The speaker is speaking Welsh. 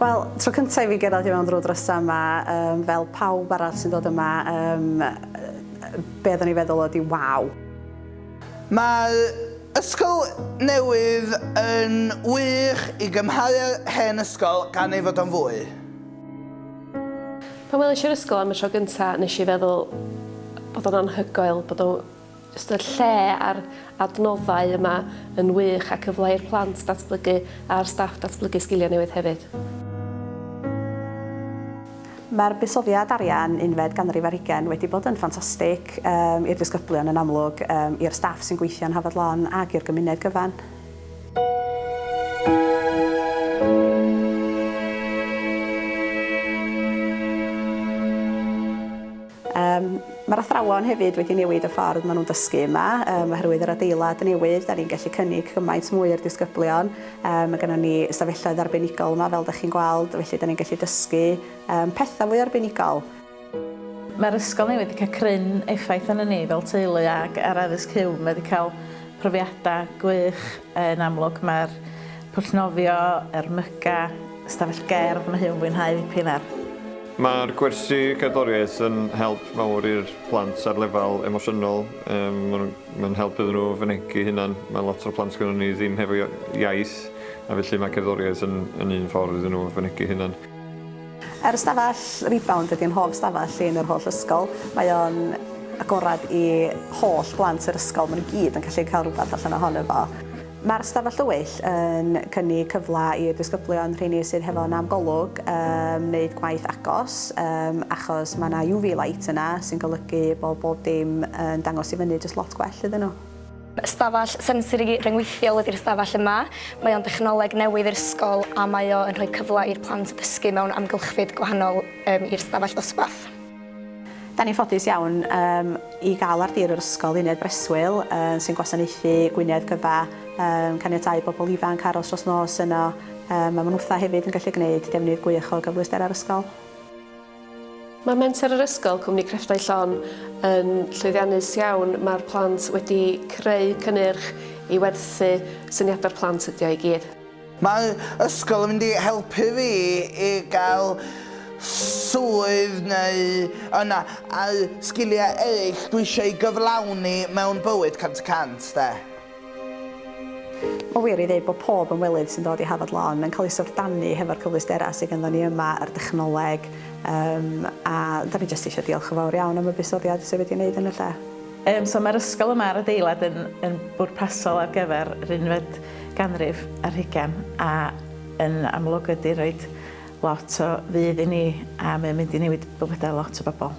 Wel, tro cyntaf i fi gyrraedd i mewn drwy drysa yma, um, fel pawb arall sy'n dod yma, um, be oeddwn i feddwl oedd i waw. Mae ysgol newydd yn wych i gymharu â'r hen ysgol gan ei fod o'n fwy. Pan welish i'r ysgol am y tro gynta nesh i feddwl bod o'n anhygoel bod o jyst y lle a'r adnoddau yma yn wych a cyfle i'r plant datblygu a'r staff datblygu sgilia newydd hefyd. Mae'r buddsoddiad arian unfed ganrif ar hugain wedi bod yn ffantastig, yym, i'r disgyblion yn amlwg, yym, i'r staff sy'n gweithio yn Hafod Lon ac i'r gymuned gyfan. Yym, mae'r athrawon hefyd wedi newid y ffordd maen nhw'n dysgu yma, yym, oherwydd yr adeilad newydd, da ni'n gallu cynnig cymaint mwy i'r disgyblion, yym, mae gennon ni ystafelloedd arbenigol yma, fel da chi'n gweld, felly da ni'n gallu dysgu, yym, pethau fwy arbenigol. Mae'r ysgol newydd wedi cael cryn effaith arnon ni fel teulu ac ar Addysg Huw, mae wedi cael profiadau gwych yn amlwg, mae'r pwll nofio, yr myga, ystafell gerdd, mae Huw yn fwynhau ddipyn ar. Mae'r gwersi cerddoriaeth yn help mawr i'r plant ar lefel emosiynol, mae'n help iddyn nhw fynegi hunan, mae lot o'r plant gynnon ni ddim hefo iaith a felly mae cerddoriaeth yn yn un ffordd iddyn nhw fynegi hunan. Yr ystafell Rebound ydy yn hoff stafell i yn yr holl ysgol, mae o'n agorad i holl blant yr ysgol, mae nhw gyd yn gallu cael rhywbeth allan ohono fo. Mae'r Stafell Dywyll yn cynnig cyfle i'r disgyblion, rheini sydd hefo nam Golwg, yym wneud gwaith agos yym achos mae 'na UV light yna sy'n golygu bod bob dim yn dangos i fyny jyst lot gwell iddyn nhw. Stafell sensori ryngweithiol ydi'r stafell yma. Mae o'n dechnoleg newydd i'r ysgol a mae o yn rhoi cyfle i'r plant ddysgu mewn amgylchfyd gwahanol yym i'r stafell ddosbarth. Da ni'n ffodus iawn yym i gael ar dir yr ysgol uned breswyl yy sy'n gwasanaethu Gwynedd gyfa yym caniatáu bobl ifanc aros dros nos yno yym a ma' nhw fatha hefyd yn gallu gneud defnydd gwych o gyfleusterau'r ysgol. Mae Menter yr Ysgol, Cwmni Crefftau Llon, yn llwyddiannus iawn, mae'r plant wedi creu cynnyrch i werthu syniadau'r plant ydi o i gyd. Mae'r ysgol yn mynd i helpu fi i gael swydd neu yna a'r sgiliau eraill dwi eisiau eu gyflawni mewn bywyd cant y cant 'de. Mae'n wir ei ddeud bod pob ymwelydd sy'n dod i Hafod Lawn yn cael ei syfrdanu hefo'r cyfleusterau sydd ganddo ni yma, yr dechnoleg, yym a 'dan ni jyst eisiau diolch yn fawr iawn am y buddsoddiad sydd wedi ei wneud yn y lle. Yym so mae'r ysgol yma a'r adeilad yn yn bwrpasol ar gyfer yr unfed ganrif ar hugen a yn amlwg ydy roed lot o fudd i ni a mae'n mynd i newid bywydau lot o bobl.